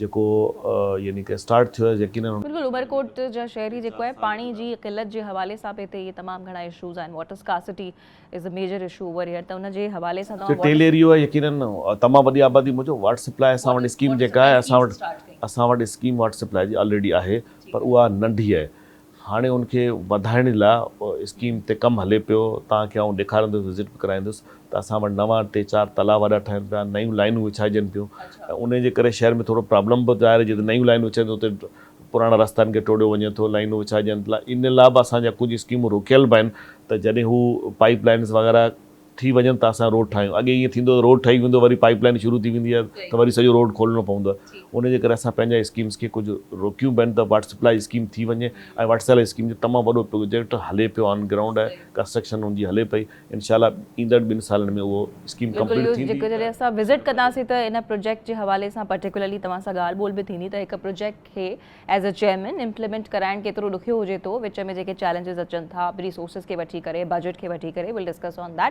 جيڪو يعني ڪه اسٽارٽ ٿيو آهي يقينن ان. بلڪل عمرڪوٽ جا شهري جيڪو آهي پاڻي جي قلت جي حوالي سان به هتي اهي تمام گهڻا اشوز آهن water scarcity is a major issue over here ته ان جي حوالي سان توهان واٽر. ٽيل ايريو آهي يقينن تمام وڏي آبادي موجب واٽر سپلاء اسان وٽ اسڪيم جيڪا آهي اسان وٽ اسان وٽ اسڪيم واٽر سپلاء جي آلريڊي آهي پر اها ننڍي آهي هاڻي ان کي وڌائڻ لاء اسڪيم تي ڪم هلي پيو، توهان کي آئون ڏيکاريندس، وزٽ به ڪرائيندس ته اسان وٽ نوان ٽي چار تلاء وڏا ٺهن پيا، نيون لائينون وڇائجن پيون ۽ انهي جي ڪري شهر ۾ ٿورو پرابلم به ظاهر جتي نيون لائينون وڇائجن اتي پراڻا رستا آهن ڪي ٽوڙيو وڃي ٿو، لائينون وڇائجن ٿيا، ان لاء به اسان جا ڪجهه اسڪيمون روڪيل به آهن ته جڏهن هو پائيپ لائينز وغيره. ٿي وڃن ته اسان روڊ ٺاهيون اڳي ائين ٿيندو هو ته روڊ ٺهي ويندو وري پائيپ لائين شروع ٿي ويندي هئي ته وري سڄو روڊ کولڻو پوندو هو ان جي ڪري اسان پنهنجا اسڪيمز کي ڪجهه روڪيون به آهن ته واٽر سپلائي اسڪيم ٿي وڃي ۽ واٽر سپلائي اسڪيم جو تمام وڏو پروجيڪٽ هلي پيو آن گرائونڊ آهي ڪنسٽرڪشن ان جي هلي پئي انشاء الله ايندڙ ٻن سالن ۾ اهو اسڪيم ڪمپليٽ ٿيندي بلڪل جڏهن اسان وزٽ ڪنداسين ته ان پروجيڪٽ جي حوالي سان پرٽيڪولرلي توهان سان ڳالهه ٻولهه به ٿيندي ته هڪ پروجيڪٽ کي ايز اي چيئرمين امپلمينٽ ڪرائڻ ڪيترو ڏکيو هجي ٿو وچ ۾ جيڪي چئلينجز اچن ٿا ريسورسز کي وٺي ڪري بجيٽ کي وٺي ڪري ويل ڊسڪس آن ڌيٽ.